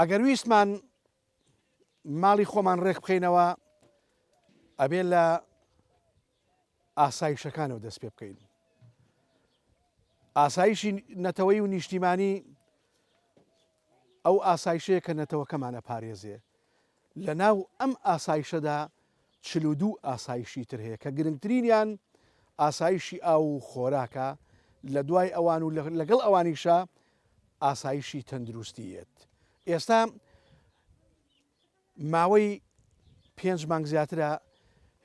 ئەگەر ویستمان ماڵی خۆمان ڕێک بخینەوە ئەبێ لە ئاسایشەکانەوە دەست پێ بکەین. ئاسایشی نەتەوەی و نیشتیمانی ئەو ئاسایشەیە کە نەتەوەکەمانە پارێزێ لە ناو ئەم ئاسایشەدا چل و دوو ئاسایشی تر هەیە کە گرنگترینیان ئاسایشی ئاو و خۆراکە لە دوای ئەوان و لەگەڵ ئەوانیشە ئاسایشی تەندروستیت ئێستا ماوەی پێنج مانگ زیاترە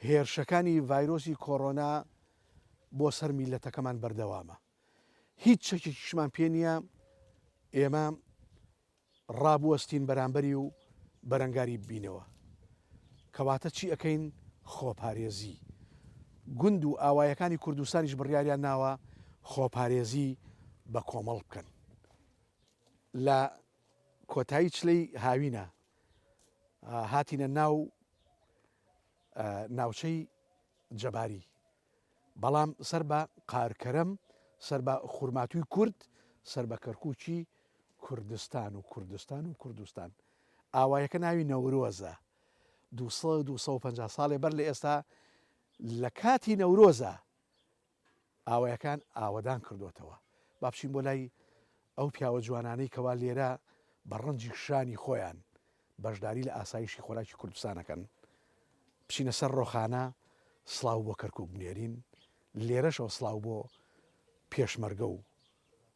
هێرشەکانی ڤایرۆسی کۆرۆنا بۆ سەر میللەتەکەمان بەردەوامە، هیچ چەکێکیشمان پێ نییە ئێمە ڕابوەستین بەرامبەری و بەرەنگاری ببینەوە. کەواتە چی ئەکەین؟ خۆپارێزی. گوند و ئاوایەکانی کوردستانیش بڕیاریان ناوە خۆپارێزی بە کۆمەڵ بکەن لە کۆتایی چلەی هاوینە هاتینە ناو ناوچەی جەباری بەڵام سەر بە قارکەرەم سەر بە خورماتووی کورد سەر بە کەرکوچی کوردستان و کوردستان و کوردستان ئاوایەکە ناوی نەورۆزە 250 ساڵێ بەر لە ئێستا لە کاتی نەورۆزە ئاوایەکان ئاوەدان کردۆتەوە با بچین بۆ لای ئەو پیاوە جوانانەی کەوا لێرە بە ڕەنجی شانی خۆیان بەشداری لە ئاسایشی خۆراکی کوردستانەکەن بچینە سەر ڕۆخانە سڵاو بۆ کەرکک بنێرین لێرەشەوە سڵاو بۆ پێشمەرگە و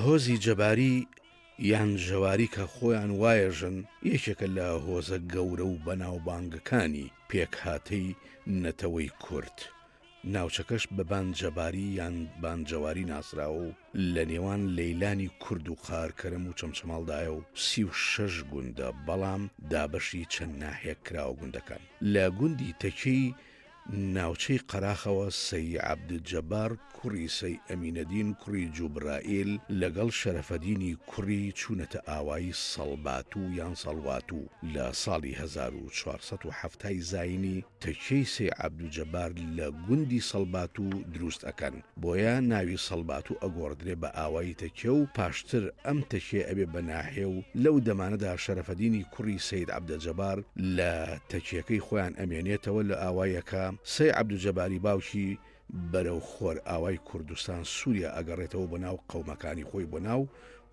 هۆزی جەباری یان ژەواری کە خۆیان وایەژن یەکێکە لە هۆزە گەورە و بەناوبانگەکانی پێکهاتەی نەتەوەی کورد. ناوچەکەش بە بان جەباری یان بان جەواری ناسراوە و لە نێوان لەیلانی کورد و قارکەرم و چەمچەماڵدایە و سی و شەش گوندە بەڵام دابەشی چەند ناحیەک کراوە گوندەکان لە گوندی تەکێی ناوچەی قەراخەوە سەی عەبدولجەبار کوڕی سەی ئەمینەدین کوڕی جوبرائیل لەگەڵ شەرەفەدینی کوڕی چوونەتە ئاوایی سەڵباتوو یان سەڵواتوو لە ساڵی هەزار و چوار سەد و حەفتا ی زاینی تەکیەی سەی عەبدوجەبار لە گوندی سەڵباتوو دروست ئەکەن، بۆیە ناوی سەڵباتوو ئەگۆڕدرێ بە ئاوایی تەکیە و پاشتر ئەم تەکیەیە ئەبێ بە ناحیە و لەو دەمانەدا شەرەفەدینی کوڕی سەید عەبدەجەبار لە تەکیەکەی خۆیان ئەمێنێتەوە لە ئاواییەکە سەی عەبدوجەباری باوکی بەرەو خۆرئاوای کوردستان سوریا ئەگەڕێتەوە بۆ ناو قەومەکانی خۆی بۆ ناو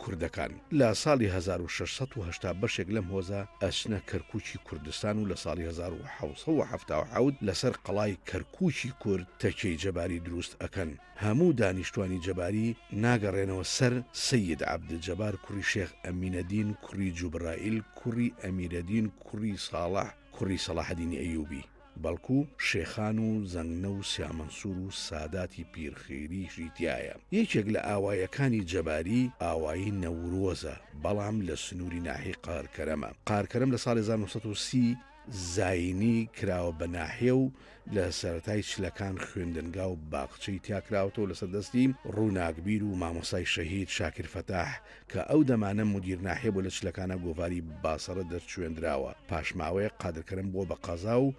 کوردەکان لە ساڵی هەزار و شەش سەد و هەشتا بەشێک لەم هۆزە ئەچنە کەرکوکی کوردستان و لە ساڵی هەزار و حەوت سەد و حەفتا و حەوت لەسەر قەڵای کەرکوکی کورد تەکیەی جەباری دروست ئەکەن هەموو دانیشتوانی جەباری ناگەڕێنەوە سەر سەید عەبد جەبار کوڕی شێخ ئەمینەدین کوڕی جوبرائیل کوڕی ئەمیرەدین کوڕی ساڵح کوڕی سەڵاحەدینی ئەیوبی. بەڵکو شێخان و زەنگنە و سیامەنسور و ساداتی پیر خیریشی تیایە. یەکێک لە ئاوایەکانی جەباری ئاوایی نەورۆزە، بەڵام لە سنووری ناحیەی قارکەرەمە. قارکەرەم لە ساڵی هەزار و نۆ سەد و سی زاینی کراوە بە ناحیە و لە سەرەتای چلەکان خوێندنگا و باخچەی تیا کراوەتەوە لەسەر دەستی ڕووناکبیر و مامۆستای شەهید شاکیر فەتاح کە ئەو دەمانە مودیر ناحیە بۆ لە چلەکانا گۆڤاری باسەڕە دەرچوێندراوە، پاش ماوەیەک قادر کەرەم بووە بە قەزا و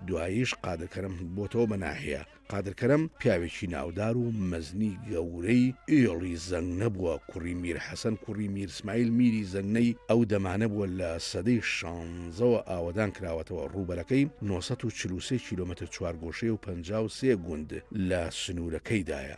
دواییش قادر کەرەم بۆتەوە بە ناحیە. قادر کەرەم پیاوێکی ناودار و مەزنی گەورەی ئێڵی زەنگنە بووە، کوڕی میر حەسەن کوڕی میر سمایل میری زەنگنەی ئەو دەمانە بووە لە سەدەی شانزەوە ئاوەدان کراوەتەوە، ڕووبەرەکەی نۆ سەد و چل و سێ کیلۆمەتر چوارگۆشەیە و پەنجا و سێ گوند لە سنوورەکەیدایە.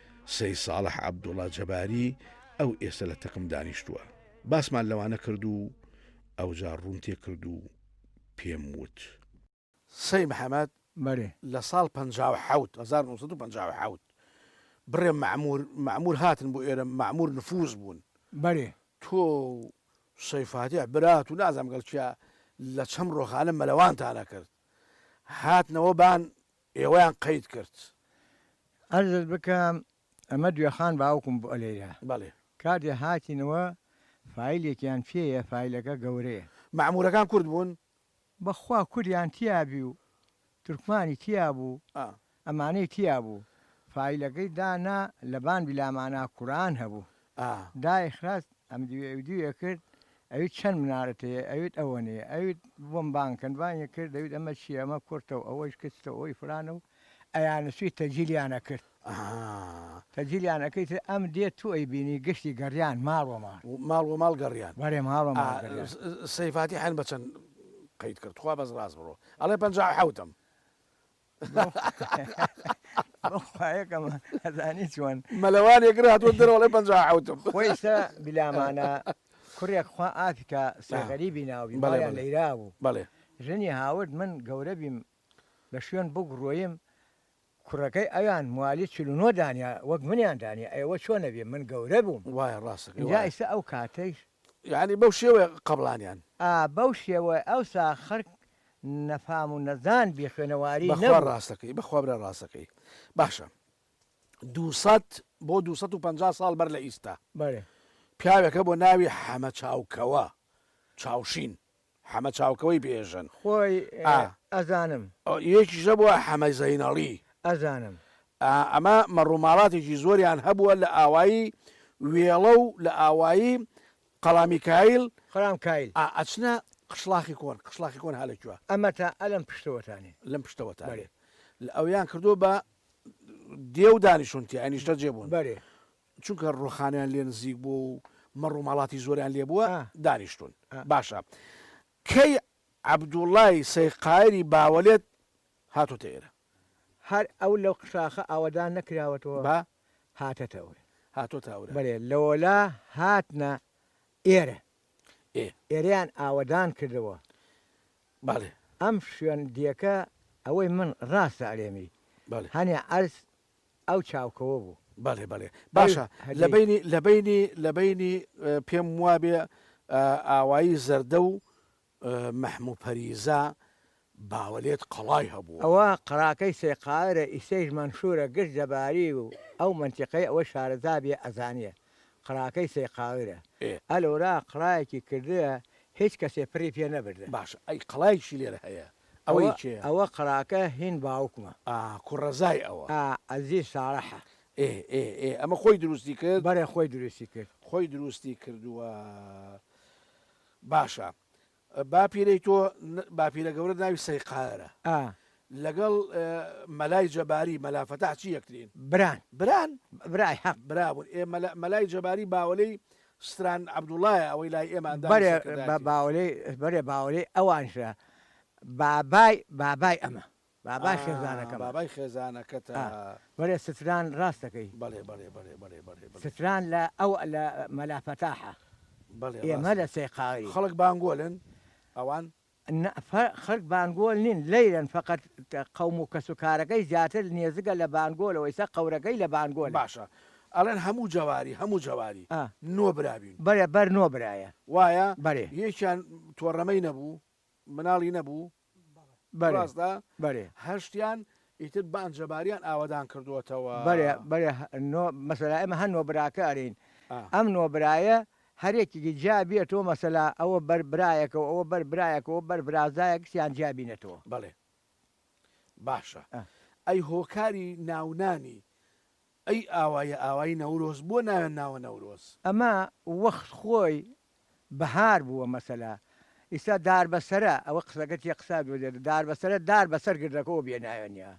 سەید ساڵح عەبدوڵا جەباری ئەو ئێستە لە تەقم دانیشتووە باسمان لەوانە کرد و ئەوجا ڕووم تێ کرد و پێم وت. سەید محەمەد، بەلی. لە ساڵ پەنجا و حەوت، هەزار و نۆ سەد و پەنجا و حەوت، بڕێ مەعموور، مەعموور هاتن بۆ ئێرە، مەعموور نفووز بوون. بەلی. تۆ و سەید فاتیح برات و نازانم گەڵ کیا لە چەم ڕۆخانە مەلەوانتانە کرد. هاتنەوە بان ئێوەیان قەید کرد. عەرزت بکەم ئەمە دوێخان باوکم بوو لێرە بەڵێ. کاتێ هاتینەوە فایلێکیان پێیە فایلەکە گەورەیە. مەعمورەکان کورد بوون؟ بەخوا کوردیان تیابی و تورکمانی تیابوو ئا. ئەمانەی تیابوو فایلەکەی دانا لەبان بلامانا کوران هەبوو. ئا. دایە خراس ئەم دیوێ ئەوی دیوێ کرد ئەویت چەند منارەت هەیە ئەویت ئەوەنەیە ئەویت بۆم بانگ کەن بانگێ کرد دەویت ئەمە چیە ئەمە کورتە و ئەوەیش کچتە و ئەوەی فلانە و ئەیانە چوی تەجیلیان ئەکرد ئا. تەجیلیان ئەکرد تر ئەم دێ تو ئەیبینی گشتی گەڕیان ماڵ وە ماڵ. ماڵ وە ماڵ گەڕیان. بەرێ ماڵ وە ماڵ گەڕیان. ئا. سەیفاتی حەن بە چەند قەید کرد تخوا بەس ڕاست بڕۆ ئەڵێ پەنجا و حەوتم. مەلەوانێک هاتووە دەرەوەڵێ پەنج حوتم خۆیشتە بلامانە کوڕێک خوا ئافکە سەغەریبی ناوی بەڵێ لەیرا بوو بەڵێ ژنی هاورد من گەورە بیم لە شوێن بگڕۆیم کوڕەکەی ئەویان موالی چلونۆ دانیا وەک منیان دانیە ئەوە چۆنەبێ من گەورە بووم وایە ڕاستە ئیستا ئەو کاتەیش یانی بەو شێوەیە قەبڵانیان. ئا بەو شێوەیە ئەوسا خەرک نەفام و نەزان بی خوێنەواری نەبوو. بەخوا ڕاستەکەی بەخوا برا ڕاستەکەی باشە دوو سەد بۆ دوو سەد و پەنجا ساڵ بەر لە ئیستا بەرێ پیاوێکە بۆ ناوی حەمە چاوکەوە چاوشین حەمە چاوکەوەی بێژن. خۆی ئا. ئەزانم. ئۆ یەکیش نەبووە حەمە زەینەڵی. ئەزانم. ئا ئەمە مەڕوماڵاتێکی زۆریان هەبووە لە ئاوایی وێڵە و لە ئاوایی قەڵا میکایل. قەڵا میکایل. ئا ئەچنە قشڵاخی کۆن. قشڵاخی کۆن ها لە کوێ؟ ئەمە تا ئە لەم پشتەوەتانێ. لەم پشتەوەتانێ. بەلێ. لە ئەویان کردووە بە دێ و دانیشوون تیا نیشتەجێ بوون. بەلێ. چونکە ڕووخانیان لێ نزیک بووە و مەڕ و ماڵاتی زۆریان لێ بووە، دانیشتوون. باشە کەی عەبدوڵڵای سەیقایری باوەلێت هاتۆتە ئێرە؟ هەر ئەو لەو قشاخە ئاوەدان نەکراوەتەوە با؟ هاتەتە ئەورە. هاتۆتە ئەورە. بەلێ، لەوەلا هاتنە ئێرە. ئێ. ئێرەیان ئاوەدان کردەوە. بەلێ. ئەم شوێن دیەکە ئەوەی من ڕاستە ئەلێمی. بەلێ. هەنێ عەرز ئەو چاوکەوە بوو. بەڵێ بەڵێ باشە لەبەینی لەبەینی لەبەینی پێم وابێ ئاوایی زەردە و مەحموو پەریزا باوەلێت قەڵای هەبوو. ئەوە قەڵاکەی سێقاەرە ئیسەیش مەنشوورە گشت جەباری و ئەو مەنتیقەی ئەوە شارەزا بێ ئەزانێ قڕاکەی سەیقاورە ئە لۆرا قڕایەکی کردیە هیچ کەسێ پڕی پێ نەبردە. باشە ئەی قەڵایەکیشی لێرە هەیە ئەوەی کێیە؟ ئەوە قەراکە هین باوکمە. ئا کوڕەزای ئەوە. ئا ئەزیز ساڵەحە. ئێ ئێ ئێ ئەمە خۆی دروستی کرد؟ بەڵێ خۆی دروستی کرد. خۆی دروستی کردووە باشە. باپیرەی تۆ باپیرە گەورەت ناوی سەیقارە ئا لەگەڵ مەلای جەباری مەلا فەتاح چی یەکترین؟ بران. بران؟ برای حەق. برابوون ئێ مەلا مەلای جەباری باوەلەی ستران عەبدوڵایە ئەوەی لای ئێمە ئەندامی بەرێ سەرکردایەتی. باوەلەی بەرێ باوەلەی ئەوانشە بابای بابای ئەمە. بابای خێزانەکەمە. ئا بابای خێزانەکەتە. ئا بەرێ ستران ڕاست دەکەی. بەڵێ بەڵێ بەڵێ بەڵێ بەڵێ بەڵێ. ستران لە ئەو لە مەلا فەتاحە. بەڵێ ڕاستە. ئێمە لە سێقاڵین. خەڵک بانگۆلن ئەوان؟ نا فە خەک بانگۆل نین لەیرەن فەقەت قەوم و کەس و کارەکەی زیاتر نێزگە لە بانگۆلەوە ئیسە قەورەکەی لە بانگۆلە. باشە ئەڵێن هەموو جەواری هەموو جەواری ئا. نۆ برا بین. بەرێ بەر نۆ برایە. وایە؟ بەرێ. یەکیان تۆڕەمەی نەبوو؟ مناڵی نەبوو؟ بەڵێ بەرێ هەشتیان ئیتر بان جەباریان ئاوەدان کردووەتەوە بەرێ بەرێ نۆ مەسەلا ئێمە هەر نۆ براکە ئەرین ئەم نۆ برایە هەرێکیکی جیا بێتەوە مەسەلا ئەوە بەر برایەکەەوە ئەوە بەر برایەکەەوە بەر برازایەک سیان جیا بینێتەوە بەڵێ باشە ئەی هۆکاری ناونانی ئەی ئاوایە ئاوای نەورۆز بۆ ناوێن ناوە نەورۆز. ئەمە وەخت خۆی بەهار بووە مەسەلە ئیستا دار بەسەرە ئەوە قسەکە چیە قسە دۆزێت دار بەسەرە دار بەسەر گردەکەوە بێ ناوێنە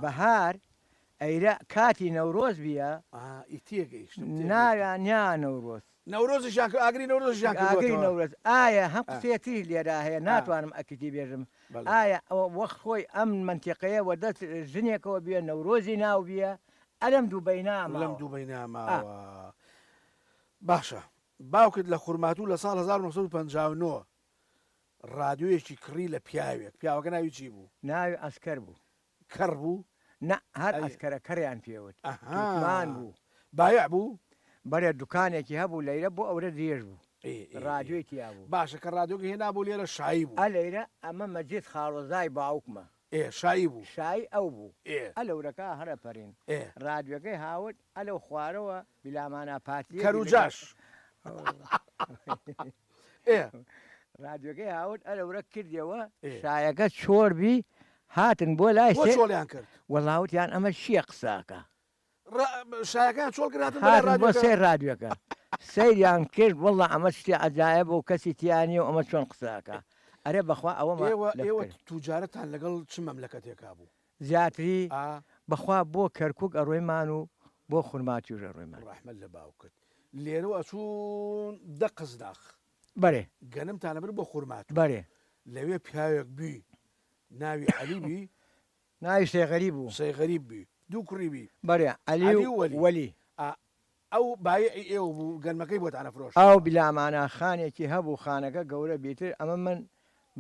بەهار ئەیرە کاتی نەورۆز بیە ئیتیە گەیشتم ناوێنیا نەورۆز. نەورۆزیشیان کرد ئاگری نەورۆزیشیان کردووەتەوە. ئاگری نەورۆز ئایا هەم قسەیە تریش لێرا هەیە ناتوانم ئەکیدی بێژم ئایا وەخت خۆی ئەم مەنتیقەیە وە دەست ژنێکەوە بیە نەورۆزی ناو بیە ئەلەم دوبەینا ماوە. لەم دوبەینا ماوە باشە باوکت لە خورماتوو لە ساڵ هەزار و نۆ سەد و پەنجا و نۆ ڕادیۆیەکی کڕی لە پیاوێک پیاوەکە ناوی چی بوو؟ ناوی عەسکەر بوو. کەڕ بوو نا هەر عەسکەرە کەڕیان پێ وت تورکمان بوو بایع بوو بەرێ دوکانێکی هەبوو لەیرە بۆ ئەورە درێژ بوو ڕادیۆی تیا بوو باشە کە ڕادیۆگە هێنا بوو لێرە شایی بوو ئە لەیرە ئەمە مەجید خاڵۆزای باوکمە ئێ شایی بوو شایی ئەو بوو ئێ ئە لەورەکە هەرە پەرین ئێ ڕادیۆگەی هاورد ئە لەو خوارەوە بلامانا پاتیە کەر و جاش ئێ. رادیۆکەی هاورد ئەرە ورە کردیەوە شایەکە چۆر بی هاتن بۆ لای بۆ سێ چۆلیان کرد وەڵا وتیان ئەمە چییە قساکە ڕا- شایەکان چۆڵ کرد هاتن بۆ لای هاتن بۆ رادیۆکە. سێ رادیۆکە سەیریان کرد وەڵا ئەمە شتی عەجایەبە و کەسی تیا نیە و ئەمە چۆن قساکە ئەرێ بەخوا ئەوەمان ئێوە لەف ئێوە کرد. توجارەتان لەگەڵ چ مەملەکەتێکا بوو زیاتری بەخوا بۆ کەرکوک ئەڕۆیمان و بۆ خورماتوش ئەڕۆیمان. ڕەحمەت لە باوکت لێرەوە ئەچوون دە قزناخ بەرێ گەنمتان ئەبرد بۆ خورماتوو بەرێ لەوێ پیاوێک بی ناوی عەلی بی ناوی سەیغەریب بوو سەیغەریب بی دوو کوڕی بی بەرێ عەلی و وەلی ئا ئەو بایعی ئێوە بوو گەنمەکەی بۆتان ئەفرۆشت. ئاو بلا مانا خانێکی هەبوو خانەکە گەورە بیتر ئەمە من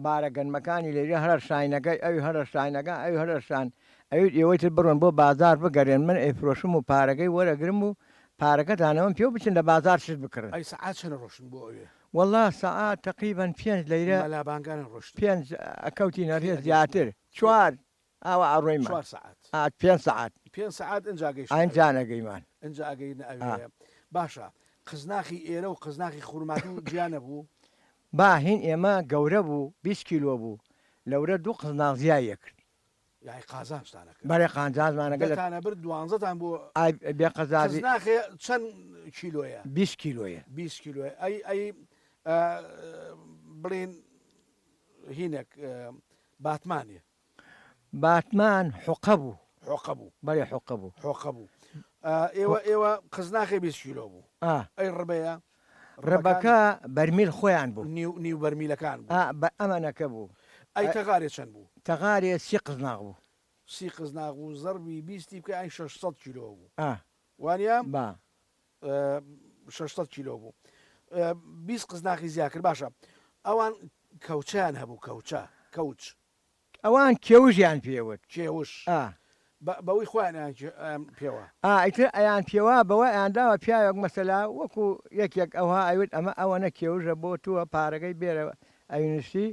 بارە گەنمەکانی لەوێ هەڵەشاینەکەی ئەوی هەڵەشاینەکە ئەوی هەڵەشان ئەویت ئێوەی تر بڕۆن بۆ بازار بگەرێن من ئەیفرۆشم و پارەکەی وەرەگرم و پارەکەتان ئەوەم پێ و بچن لە بازار شت بکڕن. ئەی سەعات چەنە ڕۆشتن بۆ ئەوێ؟ وەڵا سەعات تەقریبەن پێنج لەیرە مەلا بانگانە ڕۆشتن. پێنج ئەکەوتینە ڕێ زیاتر چوار. ئاوا ئەڕۆین چوار سەعات ئات پێنج سەعات پێنج سەعات ئنجا گەیشتە ئەوێ ئنجا نەگەیمان ئنجا ئەگەینە ئەوێ ئا. باشە قزناخی ئێرە و قزناخی خورماتوو جیا نەبوو؟ با هین ئێمە گەورە بوو بیست کیلۆ بوو لەورە دوو قزناخ زیای لێ کرد. یەعنی قازانجتانە کرد؟ بەرێ قانجانجمانە گەلە. دەتانە برد دوانزەتان بۆ ئای بێ قەزابی قزناخێ چەن کیلۆیە؟ بیست کیلۆیە. بیست کیلۆیە ئەی ئەی ئا بڵێین هینێک باتمانێ باتمان حوقە بوو. حوقە بوو. بەلێ حوقە بوو. حوقە بوو. ئێوە ئێوە قزناخێ بیست کیلۆ بوو. ئا. ئەی ڕبەیە؟ ڕبەکە بەرمیل خۆیان بوو. نیو نیو بەرمیلەکان بوو. ئا بە ئەمەنەکە بوو. ئەی تەغارێ چەند بوو؟ تەغارێ سی قزناخ بوو. سی قزناخ بوو زەڕبی بیستی بکە ئەی شەش سەد کیلۆ بوو. ئا. وانیە؟ با. شەش سەد کیلۆ بوو بیست قزناقی زیا کرد باشە ئەوان کەوچیان هەبوو کەوچە کەوچ ئەوان کێوژیان پێوت کێوش بەوەی خۆیان پێوە ئایتر ئەیان پێوا بەوە ئەیانداوە پیاوێک مەسەلا وەکو یەکێک ئەوها ئەوت ئەمە ئەوە نە کێوژە بۆ تووە پارەکەی بێرە ئەوینشتی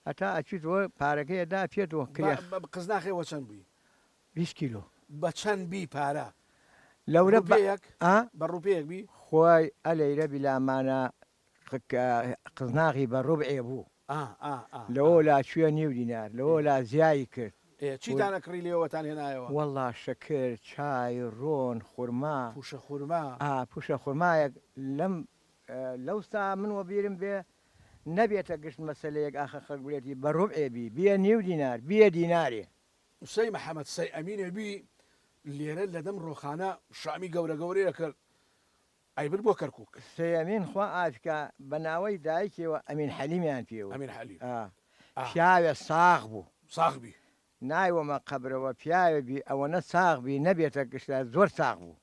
هەتا ئەچیت وە پارەکەیدا پێت وە کرێ قزناخێ وە چەند بووی بیست کیلۆ. بە چەند بی پارە؟ لەورە بە ڕوپێیەک ئا؟ بە ڕوپێیەک بی؟ خوای ئە لەیرە بیلا مانە قک ئە قزناغی بە ڕوبعێ بوو. ئا ئا ئا ئا. لەوە لا چویە نیو دینار. لەوە لا زیایی کرد. ئێ ول. چیتان ئەکڕی لێوەتان هێنایەوە؟ وەڵا شەکر، چای، ڕۆن، خورما. پووشە خورما. ئا پووشە خورمایەک لەم ئە لەو سا من وە بیرم بێ نەبێتە گشت مەسەلەیەک ئاخر خەڵک بلێتی بە ڕوبعێ بی بیە نیو دینار بیە دینارێ. قسەی محمد سەی ئەمینێ بی لێرە لە دەم ڕۆخانە شامی گەورە گەورەی ئەکرد ئەیبرد بۆ کەرکوک. سەی ئەمین خوا ئافکا بە ناوەی دایکیەوە ئەمین حەلیمیان پێ وت ئەمین حەلیم ئا ئا. پیاوێ ساغ بوو. ساغ بی. نایوەمە قەبرەوە پیاوێ بی ئەوەنە ساغ بی نەبێتە گشتە زۆر ساغ بوو.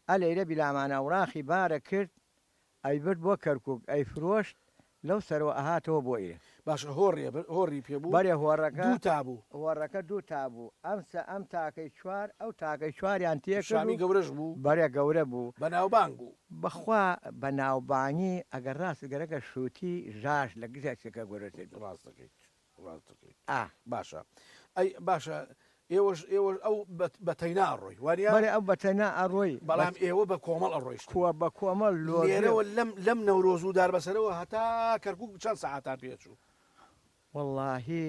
ئە لەیرە بیلامان ئەوراقی بارە کرد ئەیبرد بۆ کەرکوک ئەیفرۆشت لەو سەرەوە ئەهاتەوە بۆ ئیرە. باشە هۆڕیە بر هۆڕی پێ بوو بەرێ هۆڕەکە دوو تا بوو. هۆڕەکە دوو تا بوو ئەمسە ئەم تاکەی چوار ئەو تاکەی چواریان تێ کرد و شامی گەورەش بوو بەرێ گەورە بوو. بەناوبانگ بوو. بەخوا بەناوبانگی ئەگەر ڕاست گەرەکە شوتی ژاش لە گژە چکە گورتر بی. ڕاست دەکەیت. ڕاست دەکەی ئا باشە ئەی باشە ئێوەش ئێوەش ئەو بە تەینا ئەڕۆی وانیە؟ بەڵێ ئەو بە تەینا ئەڕۆی بەڵام ئێوە بە کۆمەڵ ئەڕۆیشتن کووە بە کۆمەڵ لێرەوە لەم لەم نەورۆز و داربەسەرەوە هەتا کەرکووک چەند سەعاتان پێ ئەچوو؟ وەڵاهی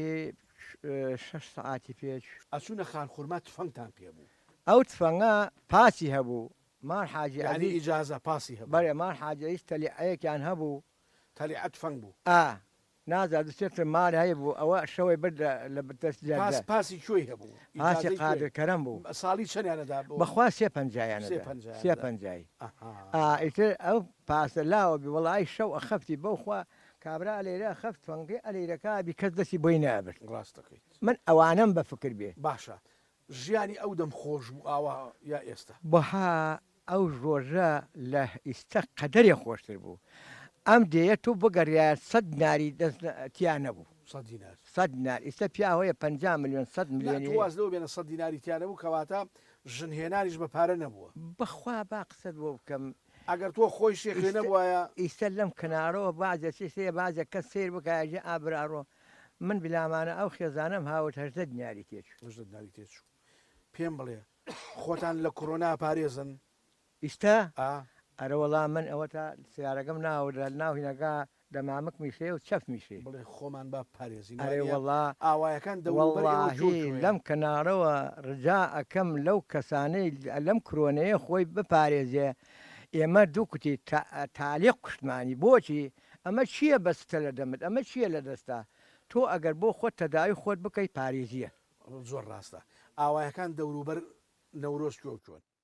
شەش سەعاتی پێ ئەچوو. ئەچوونە خانخورما تفەنگتان پێ بوو؟ ئەو تفەنگە پاسی هەبوو ماڵ حاجی عەزیز یانی ئیجازە پاسی هەبوو؟ بەڵێ ماڵ حاجی عەزیز تەلیعەیەکیان هەبوو تەلیعە تفەنگ بوو؟ ئا نازا دو سێ تر مار هەی بو ئەوە شەوەی برد لە بتەس جەردە. پاس پاسی کوێی هەبوو؟ پاسی ئیجازەی قادر کوێی؟ کەرەم بوو. ساڵی چەندیانە دا بۆ؟ بەخوا سێ پەنجایانە سێ دا پەنجایانە سێ دا. پەنجای ئا ئەها. ئیتر ئەو پاسە لاوە بی وەڵا ئەی شەو ئەخەفتی بەوخوا کابرا ئەلێرە ئەخەفت فەنگی ئەلێرەکا بی کەس دەسی بۆی نابرد ڕاست دەکەیت. من ئەوانەم بە فکر بێ. باشە ژیانی ئەو دەم خۆش بوو ئاوا یا ئێستا. بها ئەو ڕۆژە لە ئیستە قەدەرێ خۆشتر بوو ئەم دێیە تۆ بگەڕیایە سەد ناری دەست تیا نەبوو سەد دینار سەد دینار ئیستە پیا هەیە پەنجا ملیۆن سەد نا ملیۆنی تۆ واز لەوە بێنە سەد دیناری تیا نەبوو کەواتە ژن هێنانیش بە پارە نەبووە. بەخوا با قسەت بۆ بکەم ئەگەر تۆ خۆی شێخێ نەبوایە. ئیستە لەم کەنارەوە بازێ چیز هەیە بازێ کەس سەیر بکایە جێ ئا براڕۆ من بلامانە ئەو خێزانەم هاورد هەژدە دیناری تێ چوو. هەژدە دیناری تێ چوو پێم بڵێ خۆتان لە کورۆنا پارێزن. ئیستە؟ ئا. ئەرەوەڵا من ئەوەتا سەیارەکەم ناوردە ناو هینەکە دە مامک میشێ و چەف میشێ. بڵێ خۆمان با بپارێزین ئەرێ وەڵا ئاوایەکان دەوروبەر ئێوە جوڵ وەڵاهی جوڵ یە. لەم کەناڵەوە ڕجا ئەکەم لەو کەسانەی لەم کرۆنەیە خۆی بپارێزێ ئێمە دوو کوتی تا تالیق کوشتمانی بۆچی ئەمە چیە بەستتە لە دەمت ئەمە چیە لە دەستا تۆ ئەگەر بۆ خۆت تەداوی خۆت بکەی پاریزیە. زۆر ڕاستە ئاوایەکان دەوروبەر نەورۆز کوێ و چۆن.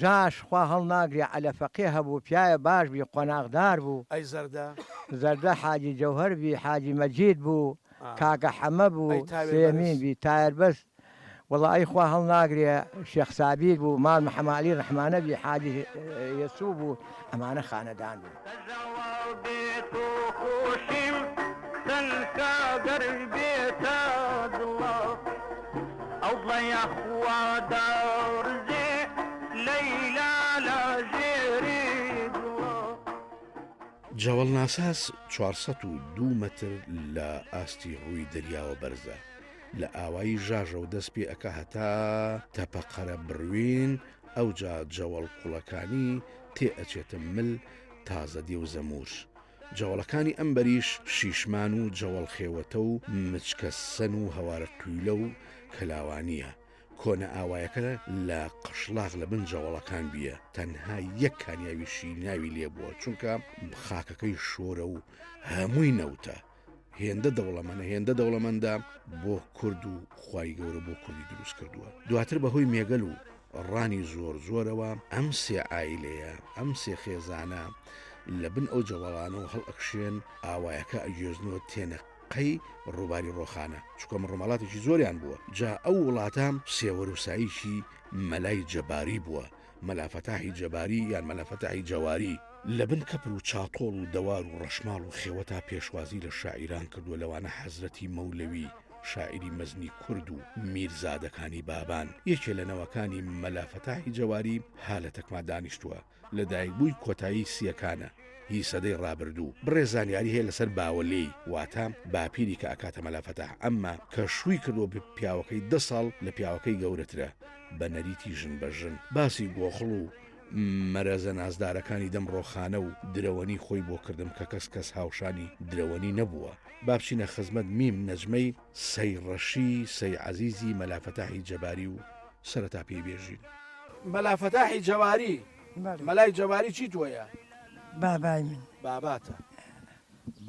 جاش خوا هەڵناگرێ عەلە فەقێ هەبوو پیاە باش بی قۆناغ دار بوو. ئەی زەردە؟ زەردە حاجی جەوهەر بی حاجی مەجید بوو کاکە حەمە بوو سێمین بی تایەر بەس وەڵا ئەی خوا هەڵناگرێ شێخ سابیر بوو مام حەمە عەلی ڕەحمانە بی حاجی یەسوو بوو. ئەمانە خانەدان بوون. جەوەڵ ناساس چوار سەد و دوو مەتر لە ئاستی ڕووی دەریاوە بەرزە لە ئاوایی ژاژە و دەست پێ ئەکا هەتا تەپە قەرە بڕوین ئەوجا جەوەڵ قوڵەکانی تێ ئەچێتە مل تازە دێ و زەموور جەوەڵەکانی ئەم بەریش شیشمان و جەوەڵ خێوەتە و مچکە سەن و هەوارە قویلە و کەلاوانییە کۆنە ئاوایەکە لە قشڵاغ لە بن جەوەڵەکان بیە تەنها یەک کانیاوی شیریناوی لێبووە چونکە خاکەکەی شۆرە و هەمووی نەوتە هێندە دەوڵەمەنە هێندە دەوڵەمەندە بۆ کورد و خی گەورە بۆ کوردی دروست کردووە دواتر بەهۆی مێگەل و ڕانی زۆر زۆرەوە ئەم سێ ئایلەیە ئەم سێ خێزانە لە بن ئەو جەوەڵانە و هەڵ ئەکشێن ئاوایەکە ئەگوێزنەوە تێنە قەی ڕووباری ڕۆخانە چکۆم ڕۆمەڵاتێکی زۆریان بووە جا ئەو وڵاتە سێوەروساییکی مەلای جەباری بووە مەلا فەتاحی جەباری یان مەلا فەتاحی جەواری لە بن کەپر و چاتۆڵ و دەوار و ڕەشماڵ و خێوەتا پێشوازی لە شاعیران کردووە لەوانە حەزرەتی مەولەوی شاعیری مەزنی کورد و میرزادەکانی بابان یەکێ لە نەوەکانی مەلا فەتاحی جەواری ها لە تەکما دانیشتووە لە دایکبووی کۆتایی سیەکانە هی سەدەی ڕابردوو بڕێ زانیاری هەیە لەسەر باوەلێی واتە باپیری کە ئەکاتە مەلافەتە ئەمما کە شووی کردو پیاوەکەی دە ساڵ لە پیاوەکەی گەورەترە بە نەریتی ژن بە ژن باسی گۆخڵ و مەرەزە نازدارەکانی دەم ڕۆخانە و درەوەنی خۆی بۆ کردم کە کەس کەس هاوشانی درەوەنی نەبووە با بچینە خزمەت میم نەجمەی سەی ڕەشی سەی عەزیزی مەلا فەتاحی جەباری و سەرەتا پێی بێژین. مەلا فەتاحی جەباری بەڵێ. مەلای جەباری چی تۆیە؟ بابای من. باباتە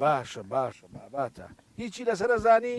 باشە باشە باباتە هیچی لەسەر ئەزانی؟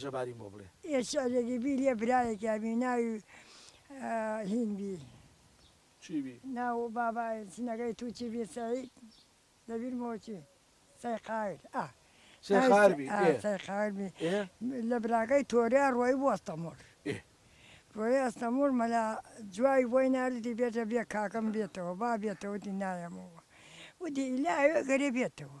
جەباریم بۆ بڵێ. ئێچ ئەگەری بی لێ برایەکیا بی ناوی هین بی. چی بی؟ ناو بابا ژنەکەی تو چی بی سەعید دەبیر مۆ چی سەیقایر ئا. سەیقایر بی ئێ. سەیقایر بی ئێ. لە براکەی تۆریا ڕۆی بو ئەستەمۆڵ. ئێ. ڕۆی ئەستەمۆڵ مەلا جوای بۆی نارد وتی بێتە بێ کاکەم بێتەوە با بێتەوە وتی نایەمەوە وتی ئیلا ئەوێ گەرێ بێتەوە.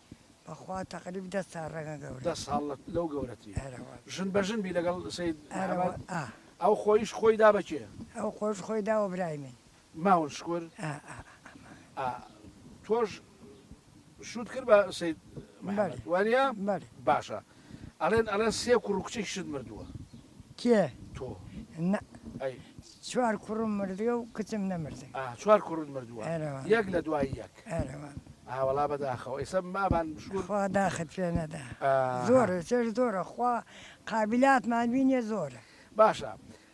بەخوا تەقریب دە ساڵ ڕەنگە گەورە. دە ساڵ لەو گەورەتری. ئەرە وەڵا. ژن بە ژن بی لەگەڵ سەید ئەرە وە محمد؟ ئا. ئەو خۆیش خۆی دا بە کێ؟ ئەو خۆش خۆی دا وە برای من. ماون شکور؟ ئا ئا ئا ماون. ئا تۆش شوت کرد بە سەید محمد بەلی وانیە؟ بەلی. باشە ئەڵێن ئەڵێن سێ کوڕ و کچێکیشت مردووە. کێ؟ تۆ. نا. ئەی. چوار کوڕم مردووە و کچم نەمردووە. ئا چوار کوڕت مردووە. ئەرەوە. یەک لە دوای یەک. ئەرەوە. ئا وەڵا بەداخەوە ئیسە بابان بشکون. خوا داخت پێ نەدا. ئا. زۆرە چێژ زۆرە خوا قابیلاتمان بینێ زۆرە. باشە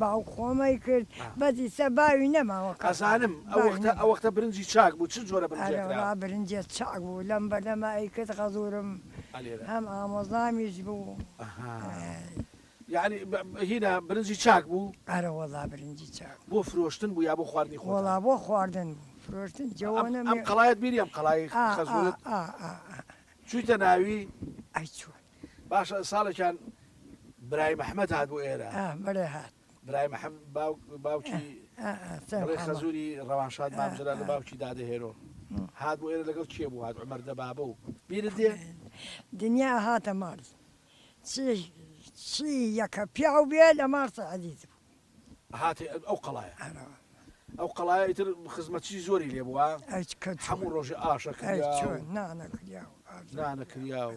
باوک خۆمەی کرد بەس ئیستا باوی نەماوە کاکە ئەزانم ئەوەختە ئەوەختە برنجی چاک بوو چ جۆرە برنجێک ئەرێ وەڵا برنجێ چاک بوو لەم بەردەما ئەیکرد غەزورم هەم ئامۆزامیش بوو ئەی. یانی هینا برنجی چاک بوو؟ ئەرە وەڵا برنجی چاک بوو. بۆ فرۆشتن بوو یا بۆ خواردنی خۆتان؟ وەڵا بۆ خواردن بوو فرۆشتن جەوەنە ئەم قەڵایەت بینی ئەم قەڵای خەزورت ئا ئا ئا ئا چوویتە ناوی؟ ئەی چۆن باشە ساڵێکیان برای مححمد هات بۆ ئێرە بەێ هات برای مححم باوکی خەزوری ڕەوانشاد مامجرا لە باوکی دادەهێرۆ هات بۆ ئێرە لەگەڵ کێ بوو هات عمەر دەبابە و بیر دێ دنیا هاتە ماڵ چی یەکە پیاو بێ لە مارسە عزیز بوو هات ئەو قەڵایە ئەو قەڵایە ئیتر خزمەتی زۆری لێ بووە هەموو ڕۆژە ئاشە نانەکریا و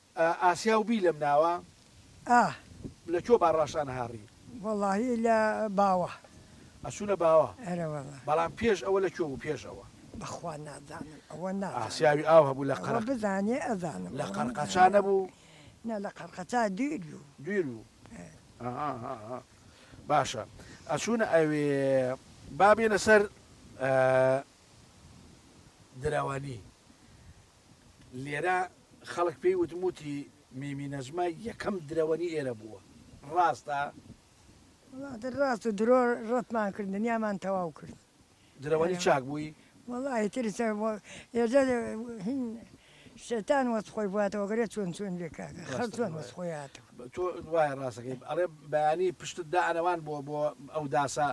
ئاسیا و بی لەم ناوە. ئاه. لە کوێ با ڕاشانە هاڕی. وەڵاهی لە باوە. ئەچوونە باوە. ئەرە وەڵا. بەڵام پێش ئەوە لە کوێ بوو پێش ئەوە. بەخوا نازانم ئەوە نازانم. ئاسیاوی ئاو هەبوو لە قەرق. ئەوە بزانێ ئەزانم. لە قەرقەچا نەبوو؟ نا لە قەرقەچا دویر بوو. دویر بوو. ئەهەهەهە باشە ئەچوونە ئەوێ. با بێنە سەر درەوەنی. لێرە خەڵک پێی وتم وتی میمی نەجمە یەکەم درەوەنی ئێرە بووە ڕاستە؟ وڵاتە ڕاست و درۆ ڕەتمان کرد دنیامان تەواو کرد درەوەنی چاک بووی؟ وەڵاهی تر ئێجا هین شەیتان وەس خۆی بواتەوە گەرێ چۆن چۆن بێ کاکە خەڵ چۆن وەس خۆی هاتەوە تۆ وایە ڕاستەکەی ئەڵێ بەیانی پشتت دا ئەنەوان بۆ بۆ ئەو داسە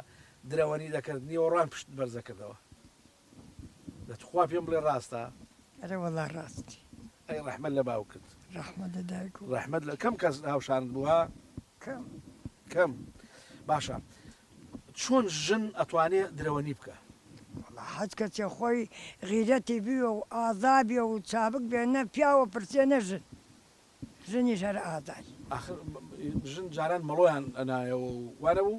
درەوەنی دەکرد نیوەڕوان پشت بەرزەکردەوە. دە تخوا پێم بڵێ ڕاستە. ئەرێ وەڵا ڕاستی. ئەی ڕەحمەت لە باوکت. ڕەحمەت لە دایک و. ڕەحمەت لە کەم کەس هاوشانت بووە؟ کەم. کەم باشە چۆن ژن ئەتوانێ درەوەنی بکا؟ وەڵا حەج کەچێ خۆی غیرەتی بوێ و ئازا بێ و چابک بێ نە پیاو ئەپرسێ نە ژن ژنیش هەر ئازای. ئاخر ژن جاران مەڵۆیان ئەنایەوە و وانەبوو؟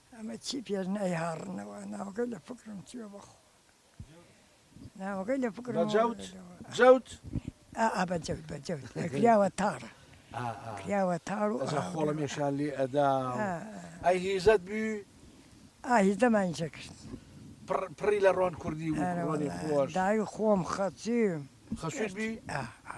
ئەمە چی پێش نایهاڕنەوە ناوەکەی لە فکرم چووە بەخوا ناوەکەی لە فکرم بە جەوت جەوت ئا ئا بە جەوت بە جەوت کراوە تاڕە ئا ئا کراوە تاڕ و ئەزا خۆڵە مێشان لێ ئەدا ئای هیزەت بی ئاهیزەمان جێ کرد پڕ پڕی لە ڕۆن کوردی و ئەرە ڕۆنی واللە خۆش دای خۆم خەچی خەسووت بی ئا ئا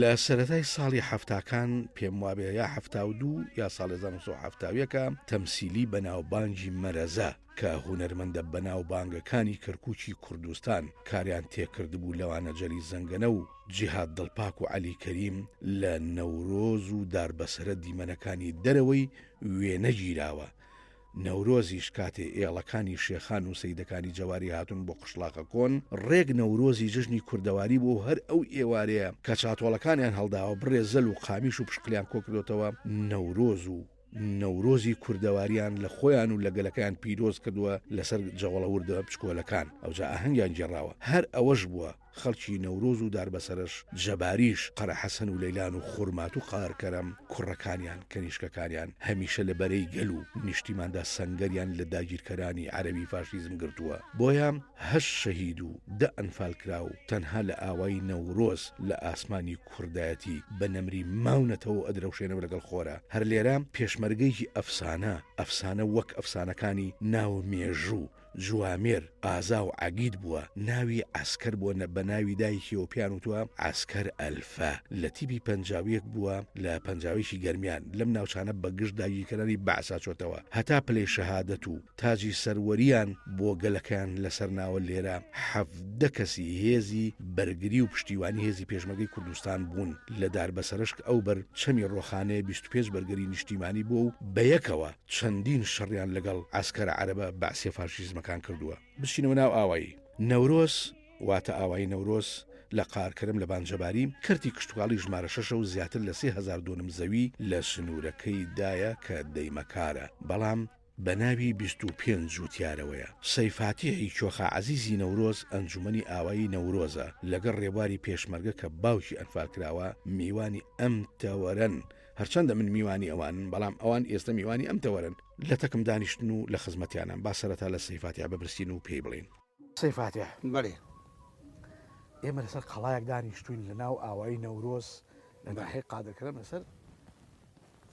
لە سەرەتای ساڵی حەفتاکان پێم وابێ یا حەفتا و دوو یا ساڵ 1970ەکە تەمسیلی بەناوبانگی مەرەزە کە هونەرمەندە بەناوبانگەکانی کەرکوچی کوردستان کاریان تێکردبوو لەوانە جەلی زەنگەنە و جیهاد دڵپاک و عەلی کەریم لە نەورۆز و داربەسەرە دیمەنەکانی دەرەوەی وێنەگیراوە نەورۆزیش کاتێ ئێڵەکانی شێخان و سەیدەکانی جەواری هاتوون بۆ قشڵاخە کۆن، ڕێک نەورۆزی جەژنی کوردەواری بووە و هەر ئەو ئێوارەیە کە چاتۆڵەکانیان هەڵداوە، بڕێ زەل و قامیش و پشقلیان کۆ کردۆتەوە، نەورۆز و نەورۆزی کوردەواریان لە خۆیان و لە گەلەکەیان پیرۆز کردووە لەسەر جەوەڵەوردە بچکۆلەکان، ئەوجا ئاهەنگیان گێڕاوە، هەر ئەوەش بووە. خەڵکی نەورۆز و داربەسەرش جەباریش، قەرەحەسەن و لەیلان و خورمات و قارکەرەم، کوڕەکانیان، کەنیشکەکانیان هەمیشە لە بەرەی گەل و نیشتیماندا سەنگەریان لە داگیرکەرانی عەرەبی فاشیزم گرتووە، بۆیە هەشت شەهید و دە ئەنفالکراو تەنها لە ئاوای نەورۆز لە ئاسمانی کوردایەتی بە نەمری ماونەتەوە و ئەدرەوشێنەوە لەگەڵ خۆرا. هەر لێرە پێشمەرگەیەکی ئەفسانە، ئەفسانە وەک ئەفسانەکانی ناو مێژوو، جوامێر، ئازا و عەگید بووە، ناوی عەسکەر بووە نە بە ناوی دایکیەوە پێیان وتووە عەسکەر ئەلفە، لە تیپی پەنجاویەک بووە لە پەنجاویەکی گەرمیان، لەم ناوچانە بە گژ داگیرکەرانی بەعسا چۆتەوە هەتا پلەی شەهادەت و تاجی سەروەریان بۆ گەلەکەیان لەسەر ناوە لێرە حەڤدە کەسی هێزی بەرگری و پشتیوانی هێزی پێشمەگەی کوردستان بوون لە داربەسەرەشک ئەو بەر چەمی ڕۆخانەیە بیست و پێنج بەرگری نیشتیمانی بووە و بەیەکەوە چەندین شەڕیان لەگەڵ عەسکەرە عەرەبە بەعسیە فاشیزمەکان کردووە. بچینەوە ناو ئاوایی نەورۆز واتە ئاوایی نەورۆز لە قارکەرم لە بانجەباری، کەرتی کشتوکاڵی ژمارە شەشە و زیاتر لە سێ هەزار دۆنم زەوی لە سنوورەکەی دایە کە دەیمەکارە بەڵام بە ناوی بیست و پێنج جووتیارەوەیە. سەیفاتیحی کۆخا عەزیزی نەورۆز ئەنجوومەنی ئاوایی نەورۆزە لەگەڵ ڕێبواری پێشمەرگە کە باوکی ئەنفالکراوە میوانی ئەم تەوەرەن، هەرچەندە من میوانی ئەوانن بەڵام ئەوان ئێستە میوانی ئەم تەوەرن لە تەکم دانیشتن و لە خزمەتیانم با سەرەتا لە سەیفاتیا ببرسین و پێی بڵین سەیفاتیا بەێ ئێمە لەسەر قەڵایەک دانیشتوین لە ناو ئاوایی نەورۆز لە ناحی قادرکرم لەسەر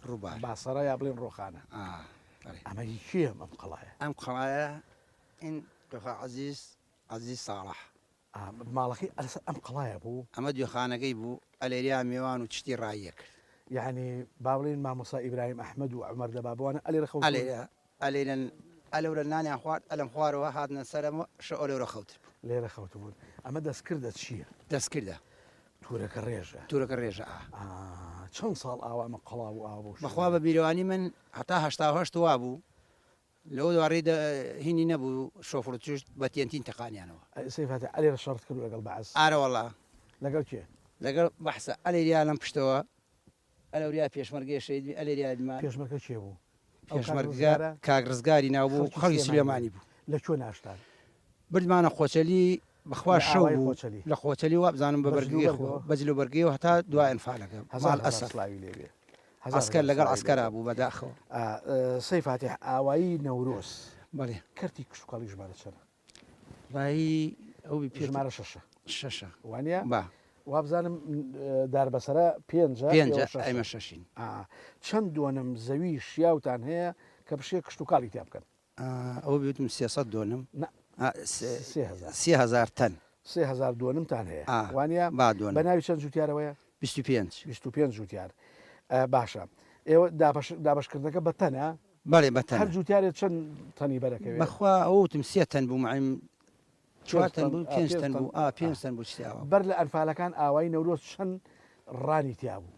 ڕووبار باسەرە یا بڵێن ڕۆخانە ئەمە هیچیە ئەم قەڵایە ئەم قەڵایە این دخوا عزیز عزیز ساڵح ماڵەکەی ئەلەسەر ئەم قەڵایە بوو. ئەمە دوێخانەکەی بوو، ئەلێریا میوان و چشتی ڕاییە کرد. یەعنی با بڵێین مامۆستا ئیبراهیم ئەحمەد و عومەر دەبا بوانە ئەلێرە خەوتوون؟ ئەلێرەن ئەلەورە نانیان خوارد، ئەلەم خوارەوە هاتنە سەرەوە شەو ئەلەورە خەوتبوون. لێرە خەوتبوون. ئەمە دەستکردە چییە؟ دەستکردە. تورەکە ڕێژە. تورەکە ڕێژە ئا. ئا چەند ساڵ ئاوا ئەمە قەڵا بوو ئاوا بەو شێوەیە؟ بەخوا بە بیرەوانی من هەتا هەشتا و هەشت وا بوو. لەو دوارەیدا هینی نەبوو شۆفڕ و چشت بە تێنتین تەقانیانەوە. ئەی سەی فاتیح ئەلێ شەڕت کردوە لەگەڵ بەعس؟ ئارەوەڵا. لەگەڵ کێ؟ لەگەڵ بەعسا. ئەلێ ریا لەم پشتەوە ئەلەو ریا پێشمەرگەیە شەهید بی ئەلێ ریا دمە. پێشمەرگە کێ بوو؟ ئەو کاک رزگارە؟ پێشمەرگە کاک رزگاری ناو بوو خەڵکی سلێمانی بوو. لە کوێ ناشتان؟ بردمانە خۆچەلی بەخوا شەو بوو لە خۆچەلی وابزانم بە بەرگی خۆ بە جل و بەرگیەوە هەتا دوا ئەنفالەکە ماڵ ئەسەد سڵاوی لێ بێ عەسکەر لەگەڵ عەسکەرا بوو بەداخەوە سەی فاتح ئاوایی نەورۆز بەڵێ کەرتی کشتوکاڵی ژمارە چەنە ڕایی ئەو ژمارە شەشە شەشە وانە با وابزانم دار بەسرە پێنج ئەمە شەشین چەند دوۆنم زەوی شیاوتان هەیە کە بشێ کشتتوکاڵی تیا بکەن ئەوە بێتم سێ سەد دۆنم نە سێ هەزار سێ هەزار تەن سێ هەزار دۆنمتان هەیە ئا وانە با دۆن بە ناوی چەند جوتیارەوەیە بیست و پێنج بیست و پێنج جوتیار ئا باشە ئێوە دابەش دابەشکردنەکە بە تەنە بەڵێ بە تەنە هەر جوتیارێ چەند تەنی بەرەکەوێ بەخوا ئەوتم سێ تەن بوو معیم چوار تەن بوو پێنج تەن بوو ئا پێنج تەن بوو شتیاوە بەر لە ئەنفالەکان ئاوای نەورۆز چەند ڕانی تیا بوو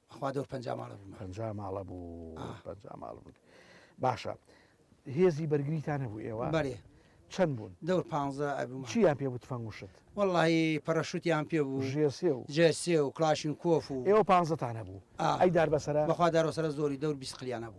خوا دەور پەنجا ماڵە بووم پەنجا ماڵە بوو آه. پەنجا ماڵ بوون باشە هێزی بەرگریتان هەبوو ئێوە بەێ چەند بوون دەور پ ئەبوو چیان پێ بوو تفەنگ وشت وەڵی پەرەشوتیان پێ بوو ژێسێ و جێسێ و کلاشین کۆف و ئێوە پانزتان هەبوو آه. ئەی دار بەسەر بەخوا دارۆسەر زۆری دەور بیسقلیان هەبوو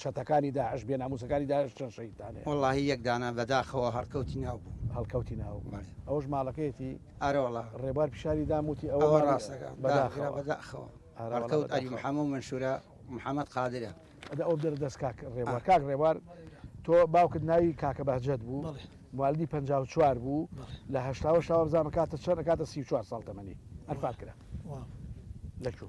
چەتەکانی داعش بێ ناموسەکانی داعش چەند شەهیدتان هەیە. وەڵاهی یەک دانە بەداخەوە هەڵکەوتی ناو بوو. هەڵکەوتی ناو بەڵێ. ئەوەش ماڵەکەیەتی؟ ئارە وەڵا. ڕێبوار پیشانی دام وتی ئەوە ئەوە ڕاستەکە بەداخەوە. بەداخەوە ئارە وەڵا هەڵکەوت عەلی بەداخەوە. محەمە و منشورە محەمەد قادرە. ئەدە ئەوە بدەرە دەست کاک ڕێبوار. ئا. کاک ڕێبوار تۆ باوکت ناوی کاکە بەهجەت بوو بەڵێ. موالدی پەنجا و چوار بوو بەڵێ. لە هەشتا و هەشتا وابزانم کاتە چەند ئەکاتە سی و چوار ساڵ تەمەنی. ئەنفال کرا. واو. لە کوێ؟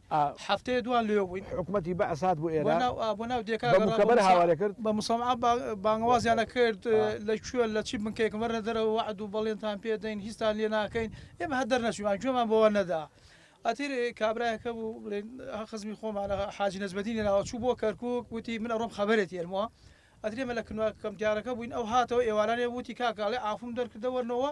ئا هەفتەیە دوان لۆیۆ بووین. حکومەتی بەعس هات بۆ ئێرە. بۆناو ئا بۆناو دێکا گەڕا. بە موکەبەر هاوارێ کرد. بە موسەمعا با بانگەوازیانە کرد. ئا. لە کوێن لە چی بنکەیەکن وەرنە دەرەوە وەعد و بەڵێنتان پێ دەین هیچتان لێ ناکەین. ئێمە هەر دەرنەچوویمان گوێمان بەوە نەدا. ئەتر کابرایەک هەبوو بڵێن خزمی خۆمانە حاجی نەجمەدینی ناوە چوو بۆ کەرکووک وتی من ئەڕۆم خەبەرێت یەنمۆ. ئەتر ئێمە لە کنواکە کەمتیارەکە بووین ئەو هاتەوە ئێوارانێ وتی کاکە ئەڵێ عافوم دەرکردە وەرنەوە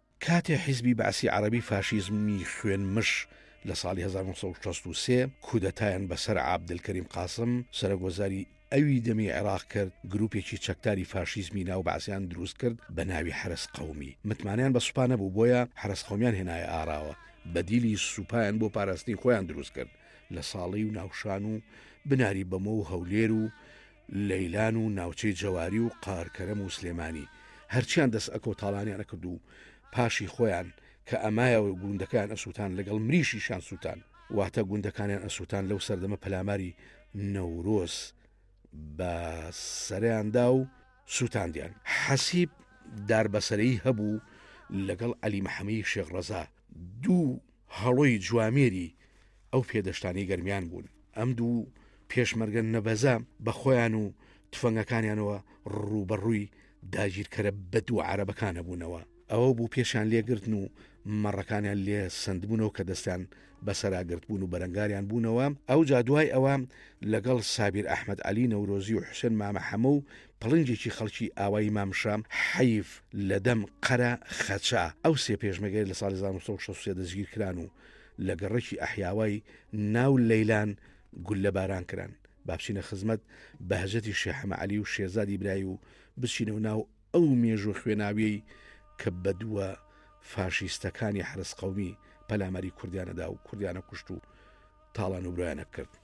کاتێ حیزبی بەعسی عەڕەبی فاشیزمی خوێن مش لە ساڵی هەزار و نۆ سەد و شەست و سێ کودەتایان بە سەر عابدلکەریم قاسم سەرۆک وەزاری ئەوی دەمی عێڕاق کرد گروپێکی چەکداری فاشیزمی ناو بەعسیان دروست کرد بە ناوی حەرەس قەومی متمانەیان بە سوپا نەبوو بۆیە حەرەس قەومیان هێنایە ئاراوە بەدیلی سوپایان بۆ پاراستنی خۆیان دروست کرد لە ساڵی و ناوشان و بناری بەمۆ و هەولێر و لەیلان و ناوچەی جەواری و قارکەرەم و سلێمانی هەرچیان دەست ئەکەو تاڵانیان ئەکرد و پاشی خۆیان کە ئەمایەوە گوندەکەیان ئەسووتان لەگەڵ مریشیشان سووتان واتە گوندەکانیان ئەسووتان لەو سەردەمە پەلاماری نەورۆز بە سەریاندا و سووتاندیان حەسیب داربەسەرەی هەبوو لەگەڵ عەلی محەمەی شێخ ڕەزا دوو هەڵۆی جوامێری ئەو پێدەشتانەی گەرمیان بوون، ئەم دوو پێشمەرگە نەبەزە بە خۆیان و تفەنگەکانیانەوە ڕووبەڕووی داگیرکەرە بەدوو عەرەبەکانە بوونەوە، ئەوە بوو پێشیان لێگرتن و مەڕەکانیان لێ سەندبوونەوە کە دەستیان بەسەرا گرتبوون و بەرەنگاریان بوونەوە، ئەوجا دوای ئەوە لەگەڵ سابیر ئەحمەد عەلی نەورۆزی و حوسێن مامە حەمە و پڵنگێکی خەڵکی ئاوایی مامشە حەیف لە دەم قەرە خەچە ئەو سێ پێشمەگەی لە ساڵی 1963 دەستگیرکران و لە گەڕەکی ئەحیاوای ناو لەیلان گوللە باران کران با بچینە خزمەت بەهجەتی شێ حەمە عەلی و شێزادی برای و بچینە و ناو ئەو مێژوە خوێناویەی کە بەدووە فاشیستەکانی حرس قومی پەلاماری کوردیانەدا و کوردیانە کوشت و تاڵان و برایانە کرد.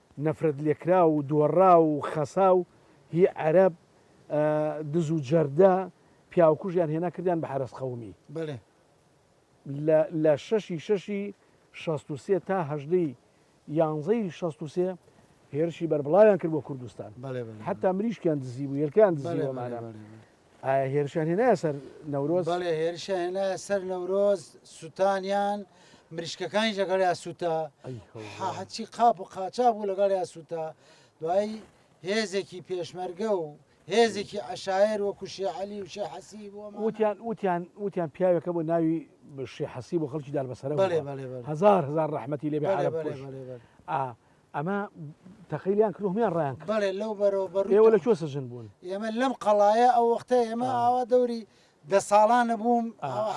نەفرەت لێکراو و دۆڕاو و خەساو هی عەرەب دز و جەردە پیاوکوژیان هێنا کردیان بە حەرەس قەومی بەلێ. لە لە شەش ی شەش ی شەست و سێ تا هەژدە ی یانزە ی شەست و سێ هێرشی بەربڵاویان کرد بۆ کوردستان بەلێ بەلێ بەلێ. حەتا مریشکیان دزیبوو هێلکەیان بەلێ دزیوە بەلێ مانە بەلێ بەلێ. ئایا هێرشیان هێنایە سەر نەورۆز؟ بەڵێ هێرشیان هێنایە سەر نەورۆز، سووتانیان، مریشکەکانیش لەگەڵیان سووتا، هەرچی قاپ و قاچاغ بوو لەگەڵیان سووتا. دوایی هێزێکی پێشمەرگە و هێزێکی عەشایەر وەکو شێ عەلی و شێ حەسیب و ئەمانە. وتیان وتیان وتیان پیاوێکە بوو ناوی شێ حەسیب و خەڵکی دالبەسەرە بوو. بەڵێ بەڵێ بەڵێ. هەزار هەزار ڕەحمەتی لێ بێ بەڵێ عەرەب بەڵێ کوژ. بەڵێ بەڵێ. ئا ئەمە تەقیلیان کرد هەمیان ڕیان کرد بەڵێ لەو بەرەوە بەڕووی ئێوە لە کوێ سەجن بوون ئێمە لەم قەڵایە ئەو وەختە ئێمە ئاوا دەوری دە ساڵانە بووم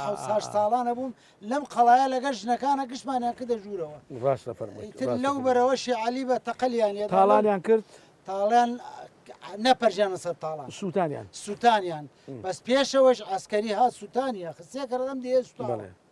حوساش ساڵانە بووم لەم قەڵایە لەگەر ژنەکانە گشتمانیان کردە ژوورەوە ڕاستە فەر لەو بەرەوەشی علی بە تەقلیان تاڵانیان کرد تاڵیان نەپەرژیانە سەر تاڵان سووتانیان سووتانیان بەس پێشەوەش ئەسکەری ها سووتانیان خسیە کەڕدەم دێ سووتانە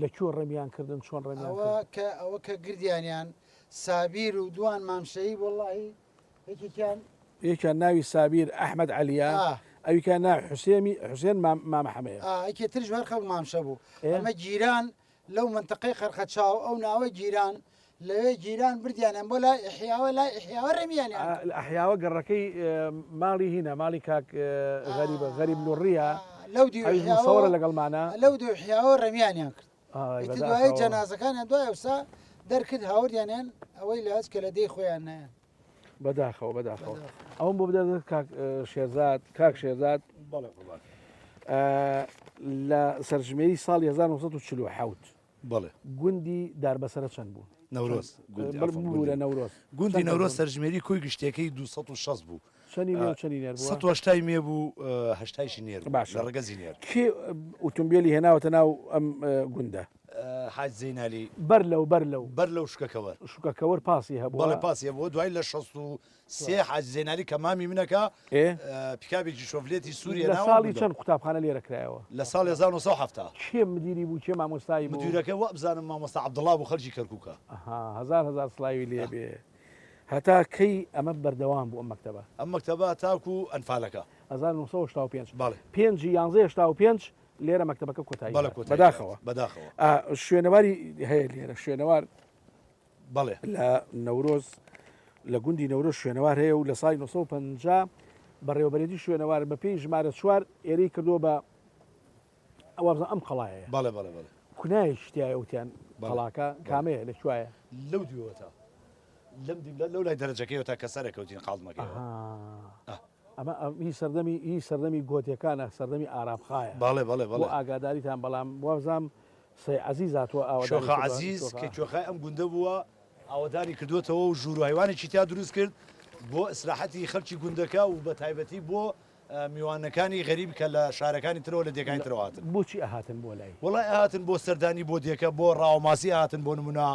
لە کوێ ڕمیان کردن چۆن ڕمیان ئەوە کردن؟ کە ئەوە کە گردیانیان سابیر و دوان مام شەهید وەڵاهی یەکێکیان یەکیان ناوی سابیر ئەحمەد عەلیە ئا ئەویکیان ناوی حوسێمی حوسێن مام مام حەمەیە ئا ئەکێ ترش هەر خەڵک مام شە بوو ئێ ئەمە گیران لەو منتەقەی قەرقەچاو ئەو ناوە گیران لەوێ گیران بردیانیان بۆ لای ئحیاوە لای ئحیاوە ڕێمیان ئەحیاوە گەڕەکەی ماڵی هینە ماڵی کاک غەریبە غەریب لوڕە لەو دیوەڕە لەگەڵمانە لەو دوحیاوە ڕێمیانیان کرد دوای جەنازەکانیان دوای ئەوسا دەرکرد هاوردیانیان ئەوەی لە هەز کە لە دەی خۆیان نایە بەداخەوە بەداخەوە ئەوم بۆ بدە کاک شێزات کاک شێزات لە سەرژمێری ساڵ 1940 بەڵێ. گوندی داربەسەرە چەند بوو؟ نەورۆز. گوندی عەفەن. ببورە نەورۆز. گوندی نەورۆز سەرژمێری کۆی گشتیەکەی دوو سەد و شەست بوو. چەنی مێ و چەنی نێر بووە؟ سەد و هەشتای مێ بوو هەشتایشی نێر بوو. باشە. لە ڕەگەزی نێر. کێ ئوتومبێلی هێناوەتە ناو ئەم گوندە؟ حاج زەینالی. بەر لەو بەر لەو. بەر لەو شکەکەوەر. شکەکەوەر پاسی هەبووە؟ بەڵێ پاسی هەبووە دوای لە شەست و سێ حاجی زەینالی کە مامی منە کە پیکابێکی شۆفلێتی سووری هێناوە. لە ساڵی چەند قوتابخانە لێرە کرایەوە؟ لە ساڵی هەزار و نۆ سەد و حەفتا. کێ مدیری بوو کێ مامۆستای بوو؟ مدیرەکەی وابزانم مامۆستا عەبدوڵڵا بوو خەڵکی کەرکووکە. ئەها هەزار هەزار سڵاوی لێ بێ. هەتا کەی ئەمە بەردەوام بوو ئەم مەکتەبە؟ ئەم مەکتەبە تاکوو ئەنفالەکە. هەزار و نۆ سەد و هەشتا و پێنج. بەڵێ. پێنجی یانزەی هەشتا و پێنج لێرە مەکتەبەکە کۆتایی هات. بەڵێ کۆتایی هات. بەداخەوە. بەداخەوە. شوێنەواری هەیە لێرە شوێنەوار. بەڵێ لە نەورۆز لە گوندی نەورۆز شوێنەوار هەیە و لە سای 1950 بەڕێوەبەرێتی شوێنەوار بە پێی ژمارە چوار ئێرەی کردووە بە ئەوابزان ئەم قەڵایە بەڵێ بەڵێ بەڵێ کونای شتیای ئەوتیان بەڵاکە کامەیە لە کوایە لەو دوێوەتە لەم دیمدا لەو لای دەرەجەکەی تا کە سەرەکەوتین قاڵمەکە ئەمە هی سەردەمی هی سەردەمی گۆتیەکانە سەردەمی ئارابخایە باڵێ بەڵێ بەڵێ ئاگاداریتان بەڵام وابزانام سەی عەزیز هاتووە ئاوەدانی کردووە. شۆخە عەزیز کە کوێخای ئەم گوندە بووە، ئاوەدانی کردووەتەوە و ژوور و هەیوانێکی تیا دروست کرد بۆ ئیسراحەتی خەڵکی گوندەکە و بەتایبەتی بۆ میوانەکانی غەریب کە لە شارەکانی ترەوە لە دێگانی ترەوە هاتن. بۆچی ئەهاتن بۆ لای؟ وەڵای ئەهاتن بۆ سەردانی بۆ دێکە، بۆ ڕاوەماسی ئەهاتن بۆ نموونە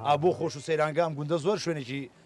ئا بۆ خۆش و سەیرانگە ئەم گوندە زۆر شوێنێکی.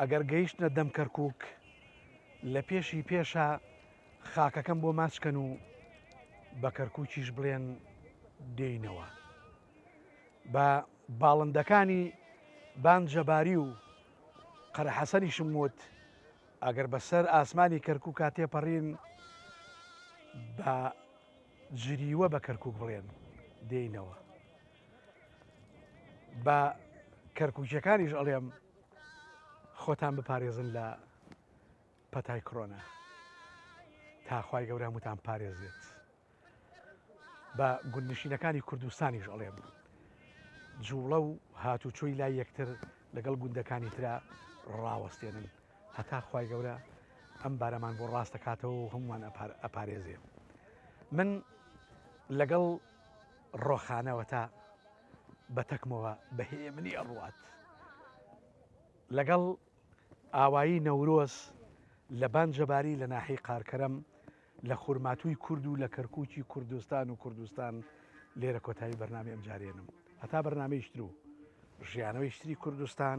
ئەگەر گەیشتنە دەم کەرکوک لە پێشی پێشە خاکەکەم بۆ ماچ کەن و بە کەرکوکیش بڵێن دێینەوە. بە باڵندەکانی بان جەباری و قەرە حەسەنیشم وت ئەگەر بەسەر ئاسمانی کەرکوکا تێپەڕین بە جریوە بە کەرکوک بڵێن دێینەوە. بە کەرکوکیەکانیش ئەڵێم، خۆتان بپارێزن لە پەتای کڕۆنا تاخوای گەورە هەمووتان پارێزێت بە گوندنشینەکانی کوردستانیش ئەڵێم جوڵە و هاتوچۆی لای یەکتر لەگەڵ گوندەکانی تررا ڕاوەستێنن هەتا خی گەورە ئەم بارەمان بۆ ڕاست دەکاتەوە و هەمووان ئەپارێزێ من لەگەڵ ڕۆخانەوە تا بە تەکمەوە بە هێمنی ئەڕوات لەگەڵ ئاوایی نەورۆز لە بان جەباری لە ناحی قارکەرەم لە خورماتووی کورد و لە کەرکووکی کوردستان و کوردستان لێرە کۆتایی بەرنامی ئەمجارێنم هەتا بەرنمەیشتر و ژیانەوەیشتری کوردستان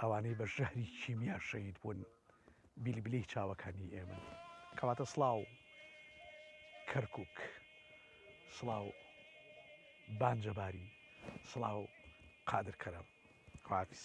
ئەوانەی بە ژەهری کیمیا شەهید بوون بیلبلەی چاوەکانی ئێمەن. کەواتە سڵاو کەرکوک، سڵاو بانجەباری، سڵاو قادر کەرەم. خوافیز.